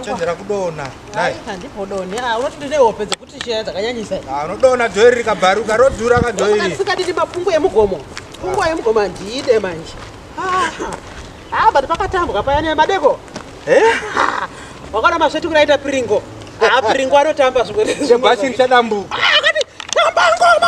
chenjera kudona handipodoni ah, unoti ndine hope dzekuti shaya dzakanyanyisa ah, unodona dhoiri rikabharuka rodhura ka dhoirisikadini mapungu emugomo pungu ah. emugomo handiide manje ha but pakatambwa paya nemadeko eh? wakaona masvetu kuraita piringo ha piringo anotamba zvimwebhasi richadambu akati tamba ngoma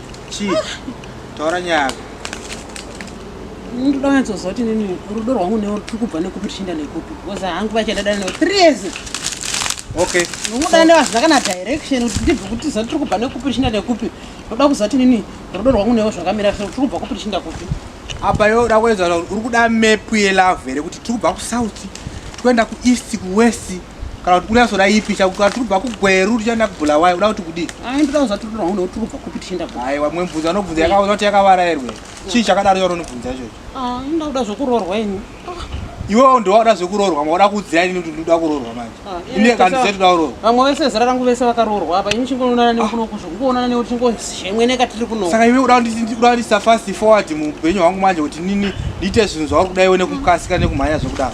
chii taura nyaya yako ndoda wanyatsozva kuti nini rudo rwangu newe ruri kubva nekupi tichienda nekupi because hangu vachadada newe three years okay unodana newe hazvina kana direction kuti ndibve kuti zati tiri kubva nekupi tichienda nekupi ndoda kuziva kuti nini rudo rwangu newe zvakamira so tiri kubva kupi tichienda kupi apa yo uda kuedza uri kuda mepu yelove here kuti tiri kubva kusouth toenda kueast kuwest kana kuti kunyatso raipi chakuti tiri kubva kugweru tichaenda kubulawayo uda kuti kudii ndoda kuziva tiri kuona kuti tiri kubva kupi tichienda kupi aiwa mwe mubvunzo anobvunza yakaona kuti yakavara here chii chakadaro yaona unobvunza ichocho ah, ndoda kuda zvekurorwa ini iwewo ndowada zvekurorwa mauda kuudzira ini kuti ndoda kurorwa manje ah, ini kandize toda kurorwa vamwe vese zera rangu vese vakarorwa apa ini chingoonana newe ah. kuno kuzvo kungoonana newe tingozhemweneka tiri kuno saka iwe uda kundisa fast forward muupenyu hwangu manje kuti nini ndiite zvinhu zvauri kuda iwe nekukasika nekumhanya zvekudaro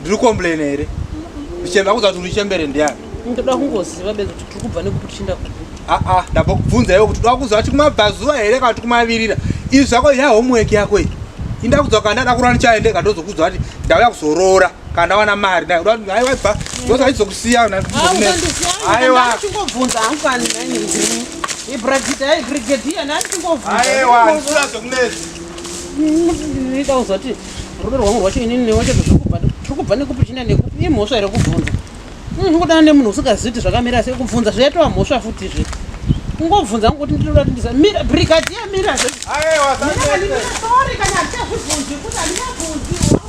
ndiri complain here ndichembe akuza kuti urichembere ndiani ndoda kungoziva be kuti tiri kubva nekuti tichienda kupi aa ah, ah, ndabva kubvunza iwe kuti toda kuziva kuti kumabvazuva here kana kuti kumavirira izvi zvako ya homework yako iyi indakuza kana ndada kurora ndichaendeka ndozokudza kuti ndauya kuzoroora kana ndawana mari ndaiwaibva ndoza aizokusiya aiwa chingobvunza hangani nani ndimi ibrigade ai brigade iya nani chingobvunza aiwa ndinoda kuzoti rudo rwangu rwacho inini newe chete zvokubva tiri kubva nekupi china nekupi imhosva here kubvunza zvingodana nemunhu usingazivi kuti zvakamira sei kubvunza zvaitova mhosva futi zve ungobvunza ngokuti ndinoda kuti ndisa mira brigadier mira zve sorry kana hatitazvibvunzi kuti handingabvunziwo